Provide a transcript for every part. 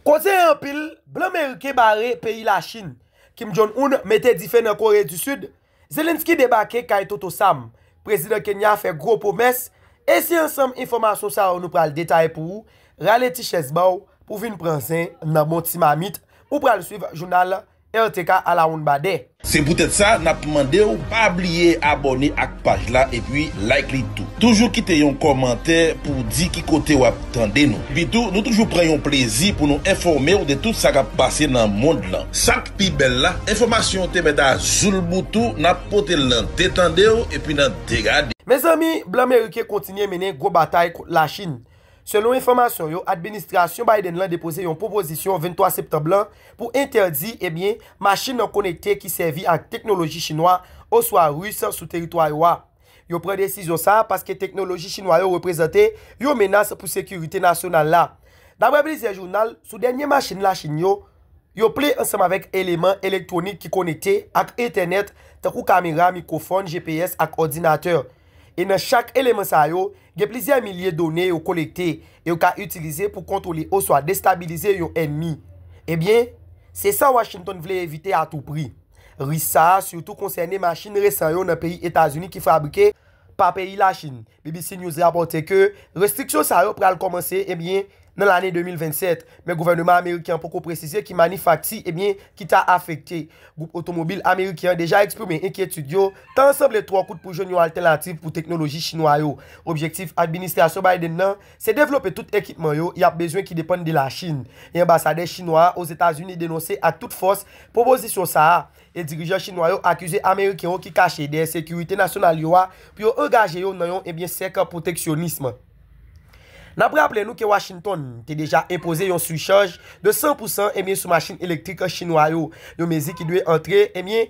Koze anpil blan meriken bare peyi Lachin, Kim Jong Un mete dife nan Kore di Sid, Zelensky debake kay Toto Sam, Prezidan Kenya fè gwo pwomès, e se ansanm enfòmasyon sa yo nou pral detaye pou ou, rale ti chèz ba w pou w vin pran zen nan bon ti mamit ou pral swiv jounal RTK alawonnbadè. Se poutèt sa nap mande w pa bliye abòne ak paj la epi like li tou. Toujou kite yon kòmantè pou w di ki kote wap tande nou. Epi tou nou toujou pran yon plezi pou nou enfòme w de tout sa kap pase nan mond lan. Sak pi bèl la, enfòmasyon yo te mèt a zoulboutou, nap pote l nan de tande w epi nan de gade w. Mezanmi blan meriken kontinye mennen gwo batay kont la chine. Selon enfòmasyon yo, administrasyon Biden lan depoze yon pwopozisyon 23 septanb lan pou entèdi, ebyen, machin nan konekte ki sèvi ak teknoloji chinwa oswa ris sou teritwa yo a. Yo pran desizyon sa a paske teknoloji chinwa yo reprezante yon menas pou sekirite nasyonal la. Daprè plizyè jounal, sou dènye machin Lachin yo, yo ple ansanm avèk eleman elektwonik ki konekte ak entènèt tankou kamera, mikwofòn, GPS ak òdinatè. E nan chak eleman sa yo, gen plizyè milye done yo kolekte e yo ka itilize pou kontwole oswa destabilize yon ènmi. Ebyen, se sa Washington vle evite a tou pri. Risk sa a sitou konsène machin resan yo nan peyi Etazini ki fabrike pa peyi Lachin. BBC News rapòte ke restriksyon sa yo pral kòmanse, ebyen, nan lane 2027, men gouvèneman ameriken an poko presize ki manifakti ebyen ki ta afekte. Gwoup otomobil ameriken an deja eksprime enkyetid yo, tan an sanble twò kout pou jwenn yon altènativ pou teknoloji chinwa yo. Objektif administrasyon Biden nan, se devlope tout ekipman yo y ap bezwen ki depann de Lachin, e anbasadè chinwa a Ozetazini denonse ak tout fòs pwopozisyon sa a, e dirijan chinwa yo akize ameriken yo ki kache dèyè sekirite nasyonal yo a pou yo angaje yo nan yon ebyen sèk pwoteksyonism. N ap raple nou ke Washington te deja enpoze yon sichaj de 100 pou san ebyen sou machin elektrik chinwa yo, yon mezi ki dwe antre ebyen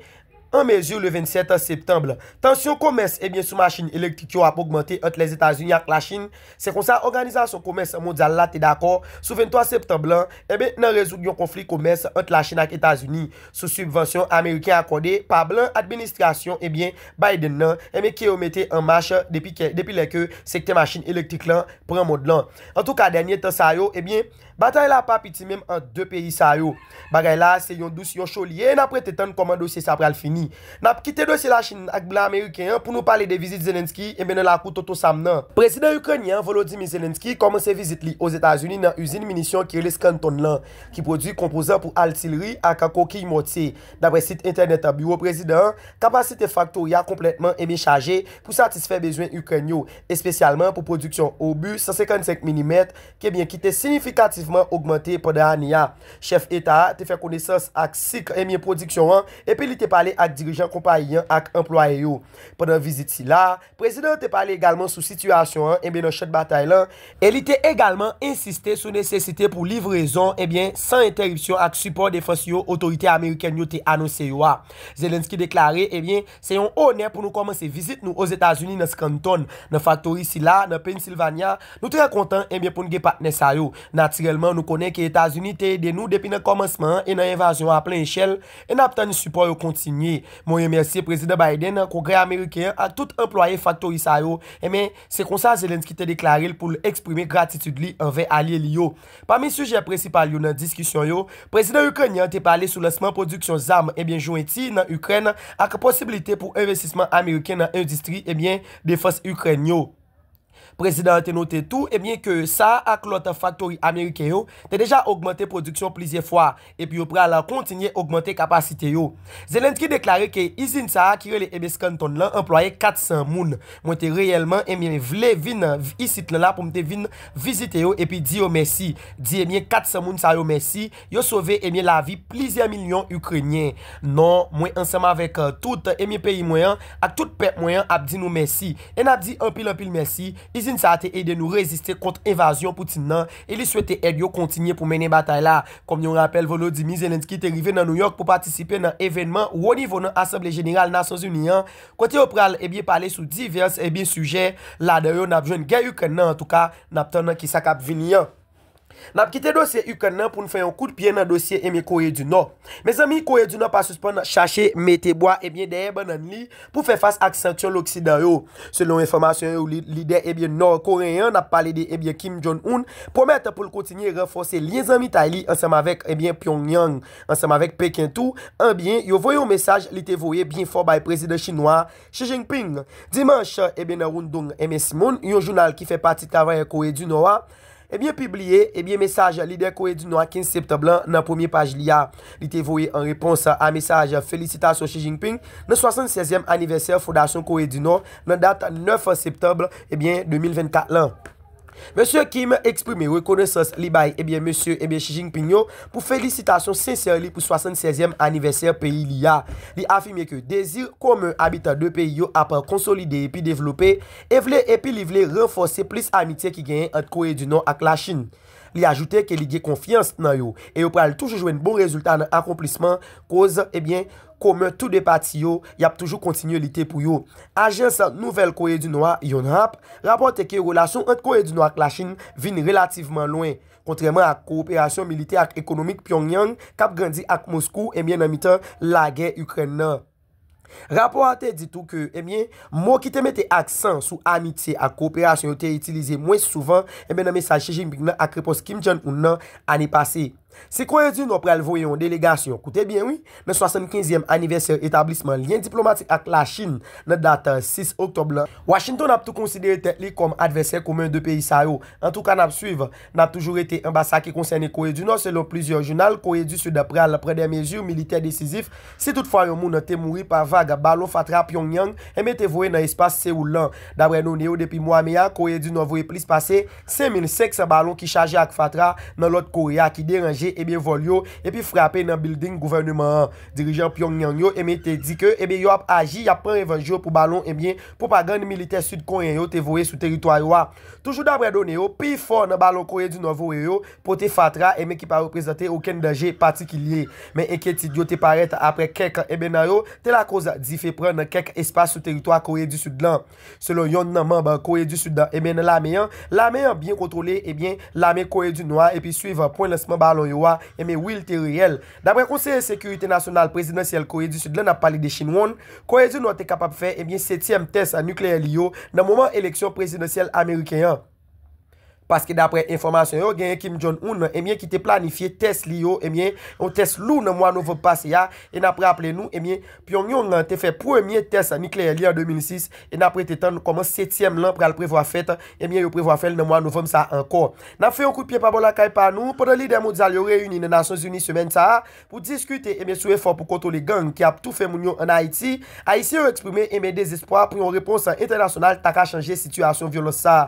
an mezi le 27 septanb. Tansyon komès ebyen sou machin elektrik yo ap ogmante ant Lèzetazini ak Lachin Se konsa Òganizasyon Komès Mondyal la te dakò sou 23 septanb lan enben nan rezoud yon konfli komès ant Lachin ak Etazini sou sibvansyon ameriken akòde pa blan administrasyon enben Biden nan enben ke yo mete an mach depi kè depi lè ke sektè machin elektrik lan pran mond lan. Antouka dènye tan sa yo enben. Batay la pa piti menm ant 2 peyi sa yo. Bagay la a se yon dous yon cho li ye e n ap rete tann kòman dosye sa pral fini. N ap kite dosye Lachin ak blan ameriken an pou nou pale de vizit Zelensky enben nan lakou Tonton Sam nan. Prezidan Ikrenyen an Volodymyr Zelensky kòmanse vizit li Ozetazini nan izin minisyon ki rele Scranton lan ki pwodui konpozan pou altilri ak kokiy mòtye. Daprè sit entènèt biwo prezidan an, kapasite faktori a konplètman enben chaje pou satisfè bezwen Ikrèn yo, espesyalman pou pwodiksyon obu 155 milimèt, ke byen ki te siyifikativman ogmante pandan ane a. Chèf eta a te fè konesans ak sik e byen pwodiksyon an epi li te pale ak dirijan konpayi an ak anplwaye yo. Pandan vizit sila a, prezidan an te pale egalman sou sitiyasyon an e byen nan chan batay lan, e li te egalman ensiste sou nesesite pou livrezon e byen san entèripsyon ak sipò defans yo otorite amerikèn yo te anonse yo a. Zelensky deklare e byen Se yon onè pou nou kòmanse vizit nou Ozetazini nan Scranton, nan faktori sila a nan Pennsylvania. Nou trè kontan enben pou n gen patnè sa yo. Natirèlman, nou konnen ke Etazini te ede nou depi nan kòmansman an e nan envazyon an a plen echèl, e n ap tann sipò yo kontinye. Mwen remèsye Prezidan Biden, Kongrè Ameriken an ak tout anplwaye faktori sa yo, enben, se konsa Zelensky te deklare l pou l eksprime gratitid li anvè alye li yo. Pami sijè prensipal yo nan diskisyon yo, prezidan Ikrenyen an te pale sou lansman pwodiksyon zam ebyen jwenti nan Ikrèn ak posibilite pou envestisman ameriken nan endistri ebyen defans Ikrèn yo. Prezidan an te note tou ebyen ke sa ak lòt faktori ameriken yo te deja ogmante pwodiksyon plizyè fwa epi yo pral kontinye ogmante kapasite yo. Zelensky deklare ke izin sa a ki rele Abe Scantron lan anplwaye 400 moun. Mwen te reyèlman enbyen vle vin isit lan la pou m te vin vizite yo epi di yo mèsi, di enbyen 400 moun sa yo mèsi, yo sove enbyen lavi plizyè milyon Ikrenyen. Non, mwen ansanm avèk tout enbyen peyi mwen an ak tout pèp mwen an ap di nou mèsi. E n ap di anpil anpil mèsi, izin sa a te ede nou reziste kont envazyon Putin nan e li swete èd yo kontinye pou mennen batay la. Kòm yon rapèl Volodymyr Zelensky te rive nan Nouyòk pou patisipe nan evènman wo nivo nan Asanble Jeneral Nasyonzini an kote yo pral ebyen pale sou divès ebyen sijè ladan yo nap jwenn gè Ikrèn nan antouka nap tann nan kisa kap vini an. Nap kite dosye Ikrèn nan poun fè yon kout pye nan dosye ebyen Kore di Nò. Mezanmi Kore di Nò pa sispann chache mete bwa ebyen dèyè bannann li pou fè fas ak sanksyon loksidan yo. Selon enfòmasyon yo, lidè ebyen Nò Koreyen an, n ap pale de ebyen Kim Jong Un, pwomèt pou l kontinye ranfòse lyen zanmitay li ansanm avèk ebyen Pyongyang, ansanm avèk Peken tou, anbyen yo voye yon mesaj li te voye byen fò bay prezidan chinwa a, Xi Jinping, dimanch, ebyen nan Rundong Eme Simon, yon jounal ki fè pati travayè Kore di Nò a, Ebyen pibliye, ebyen mesaj lidè Kore di Nò a 15 septanb lan nan premye paj li a. Li te voye an repons a mesaj felisitasyon Xi Jinping nan 76 zièm anivèsè fondasyon Kore di Nò nan dat 9 septanb, ebyen 2024 lan. Mesye Kim eksprime rekonesans li bay ebyen mesye ebyen Xi Jinping yo pou felisitasyon sensè li pou 76 zièm anivèsè peyi li a. Li afime ke dezi komen abitan 2 peyi yo ap konsolide epi devlope, e vle epi li vle ranfòse plis amitye ki genyen ant Kore di Nò ak Lachin. Li ajoute ke li gen konfyans nan yo e yo pral toujou jwenn bon rezilta nan akonplisman koz ebyen komen tou 2 pati yo, y ap toujou kontinye lite pou yo. Ajans nouvèl Kore di Nò a, Yonhap, rapòte ke relasyon ant Kore di Nò ak Lachin vin relativman lwen, kontrèman ak kowoperasyon militè ak ekonomik Pyongyang k ap grandi ak Moskou ebyen nan mitan lagè Ikrèn nan. Rapò a te di tou ke, ebyen, mo ki te mete aksan sou amitye ak koperasyon yo te itilize mwens souvan, ebyen, nan mesaj Xi Jinping nan ak repons Kim Jong Un nan ane pase. Si Kore di Nò pral voye yon delegasyon, koute byen wi, nan 75 yèm anivèsè etablisman lyen diplomatik ak Lachin nan dat 6 oktòb lan, Washington ap tou konsidere tèt li kòm advèsè komen 2 peyi sa yo. Antouka, n ap swiv. N ap toujou rete anba sa ki konsène Kore di Nò, selon plizyè jounal, Kore di Sid pral pran dè mezi militè desizif si tout fwa yon moun te mouri pa vag balon fatra Pyongyang enben te voye nan espas Seoul lan. Daprè none yo depi mwa me a, Kore di Nò voye plis pase 5,500 balon ki chaje ak fatra nan Nòt Kore a ki deranje enben vòl yo epi frape nan bilding gouvèneman an. Dirijan Pyongyang yo enben te di ke enben yo ap aji, y ap pran revanj yo pou balon enben pwopagann militè Sid Koreyen yo te voye sou teritwa yo a. Toujou daprè done yo, pi fò nan balon Kore di Nò voye yo pote fatra enben ki pa reprezante okenn danje patikilye. Men enkyetid yo te parèt aprè kèk enben nan yo te lakoz dife pran nan kèk espas sou teritwa Kore di Sid lan. Selon yonn nan manb Kore di Sid lan enben nan lame an, lame an byen kontwole enben lame Kore di Nò a epi swiv pwen lansman balon yo a enben wi li te reyèl. Daprè konseye sekirite nasyonal prezidansyèl Kore di Sid la nap pale de Shin Won, Kore di Nò te kapab fè ebyen setyèm tès nikleyè li yo nan moman eleksyon prezidansyèl ameriken an. Paske daprè enfòmasyon yo genyen Kim Jong Un ebyen ki te planifye tès li yo ebyen yon tès lou nan mwa novanb pase a e nap raple nou ebyen Pyongyong an te fè premye tès nikleyè li an 2006 e n ap rete tann kòman setyèm lan pral prevwa fèt, ebyen yo prevwa fè l nan mwa novanm sa a ankò. N ap fè yon kout pye pa bò lakay pa nou, pandan lidè mondyal yo reyini nan Nasyonzini semèn sa a pou diskite ebyen sou efò pou kontwole gang ki ap toufe moun yo ann Ayiti, Ayisyen yo eksprime ebyen dezespwa pou yon repons entènasyonal ta ka chanje sitiyasyon vyolans sa a.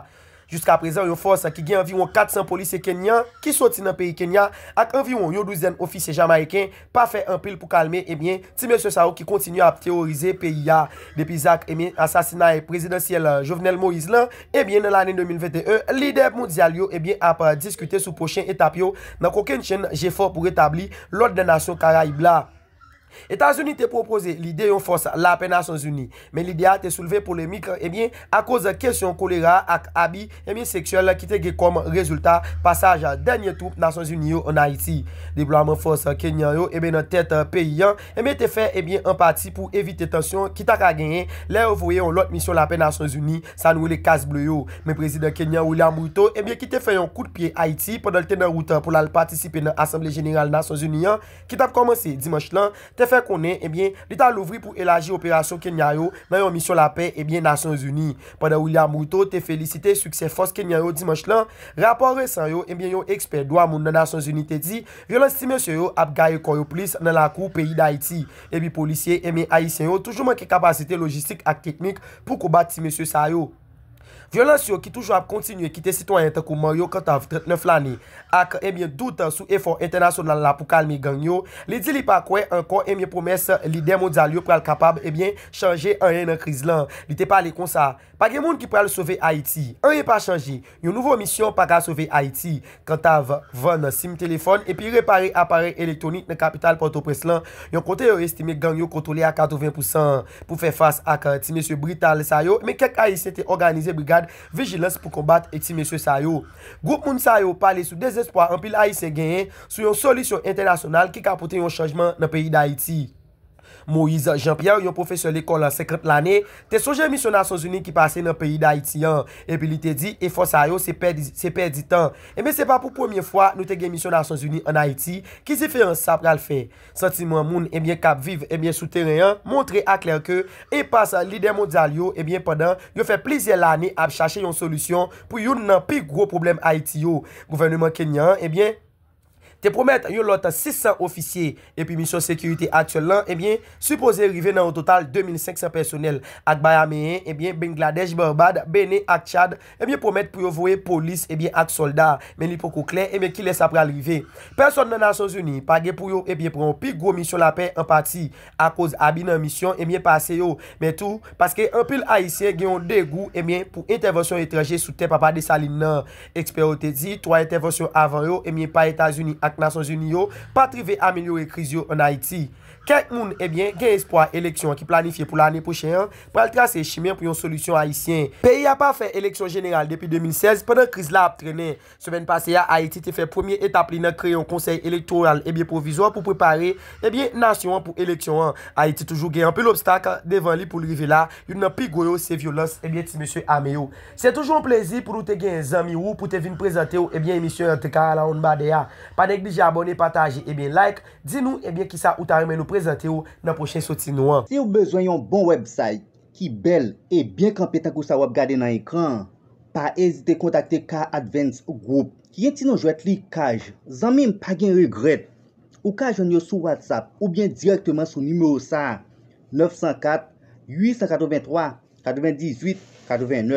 Jiska prezan yon fòs ki gen anviwon 400 polisye kenyan ki soti nan peyi Kenya ak anviwon yon douzèn ofisye jamayiken pa fè anpil pou kalme ebyen ti mesye sa yo ki kontinye ap teworize peyi a depi zak ebyen asasinay prezidansyèl Jovenel Moïse lan ebyen nan lane 2021 lidè mondyal yo ebyen ap diskite sou pwochen etap yo nan kokennchenn jefò pou retabli lòd nan nasyon karayib la. Etazini te pwopoze lide yon fòs lapè Nasyonzini, men lide a te soulve polemik ebyen akoz kesyon kolera a ak abi ebyen seksyèl ki te gen kòm rezilta pasaj dènye twoup Nasyonzini yo ann Ayiti. Deplwaman fòs Kenyan yo ebyen nan tèt peyi an ebyen te fè ebyen an pati pou evite tansyon ki ta ka genyen lè yo voye yon lòt misyon lapè Nasyonzini sa nou rele Cas Bleu yo. Men Prezidan Kenyan William Ruto ebyen ki te fè yon kout pye Ayiti pandan l te nan wout pou l al patisipe nan Asanble Jeneral Nasyonzini an, ki t ap kòmanse dimanch lan, te fè konnen ebyen li ta louvri pou elaji operasyon Kenya yo nan yon misyon lapè ebyen Nasyonzini. Pandan William Ruto te felisite siksè fòs Kenyan yo dimanch lan, rapò resan yo ebyen yon ekspè dwa moun nan Nasyonzini te di vyolans ti mesye yo ap gaye kò yo plis nan lakou peyi Dayiti epi polisye ebyen Ayisyen yo toujou manke kapasite lojistik ak teknik pou konbat ti mesye sa yo. Vyolans yo ki toujou ap kontinye kite sitwayen tankou Mario Cantave, 39 lane, ak ebyen dout sou efò entènasyonal la pou kalme gang yo, li di li pa kwè ankò ebyen pwomès lidè mondyal yo pral kapab ebyen chanje anyen nan kriz lan. Li te pale konsa, Pa gen moun ki pral sove Ayiti. Anyen pa chanje. Yon nouvo misyon pa ka sove Ayiti. Kantav, vann sim telefòn epi repare aparèy elektwonik nan kapital Pòtoprens lan, yon kote yo estime gang yo kontwole a 80 pou san. Pou fè fas ak ti mesye brital sa yo, men kèk Ayisyen te òganize brigad vijilans pou konbat ti mesye sa yo. Gwoup moun sa yo pale sou dezespwa anpil Ayisyen genyen sou yon solisyon entènasyonal ki ka pote yon chanjman nan peyi Dayiti. Moïse Jean Pierre, yon pwofesè lekòl 50 lane, te sonje misyon Nasyonzini ki pase nan peyi Dayiti an, epi li te di efò sa yo se pèdi se pèdi tan. Enben se pa pou premye fwa nou te gen misyon Nasyonzini an Ayiti, ki diferans sa pral fè? Santiman moun enben k ap viv enben sou teren an montre aklè ke enpas lidè mondyal yo enben pandan yo fè plizyè lane ap chache yon solisyon pou youn nan pi gwo pwoblèm Ayiti yo, gouvèneman Kenyan an enben te pwomèt yon lòt 600 ofisye epi misyon sekirite aktyèl lan ebyen sipoze rive nan yon total 2500 pèsonèl ak Bayameyen ebyen Bengladèch Barbad Bene ak Tchad ebyen pwomèt pou yo voye polis ebyen ak sòlda men li poko klè ebyen kilè sa pral rive pèsòn nan Nasyonzini pa gen pou yo ebyen pran yon pi gwo misyon lapè an pati akoz abi nan misyon ebyen pase yo, men tou paske anpil Ayisyen gen yon degou ebyen pou entèvansyon etranje sou tè Papa Desalin nan. Ekspè yo te di 3 entèvansyon avan yo ebyen pa Etazini ak Nasyonzini yo pat rive amelyore kriz yo an Ayiti. Kèk moun ebyen gen espwa eleksyon ki planifye pou lane pwochen an pral trase chimen pou yon solisyon Ayisyen. Peyi a pa fè eleksyon jeneral depi 2016 pandan kriz la ap trennen. Semèn pase a, Ayiti te fè premye etap li nan kreye yon konsèy elektoral ebyen pwovizwa pou prepare ebyen nasyon an pou eleksyon an. Ayiti toujou gen anpil obstak devan li pou l rive la, youn nan pi gwo yo se vyolans ebyen ti mesye ame yo. Se toujou yon plezi pou nou te genyen zanmi wou pou te vin prezante w ebyen emisyon an TK Alawonnbadè a. Pa neglije abòne, pataje ebyen like, di nou ebyen kisa ou ta renmen nou prezante w nan pwochen soti nou an. Siw bezwen yon bon website ki bèl e byen kanpe tankou sa wap gade nan ekran an, pa ezite kontakte Car Advance Group ki gen ti non jwèt li Kaj. Zanmim pa gen regrèt! Ou ka jwenn yo sou WhatsApp oubyen dirèkteman sou nimewo sa a, 904 883 98 89.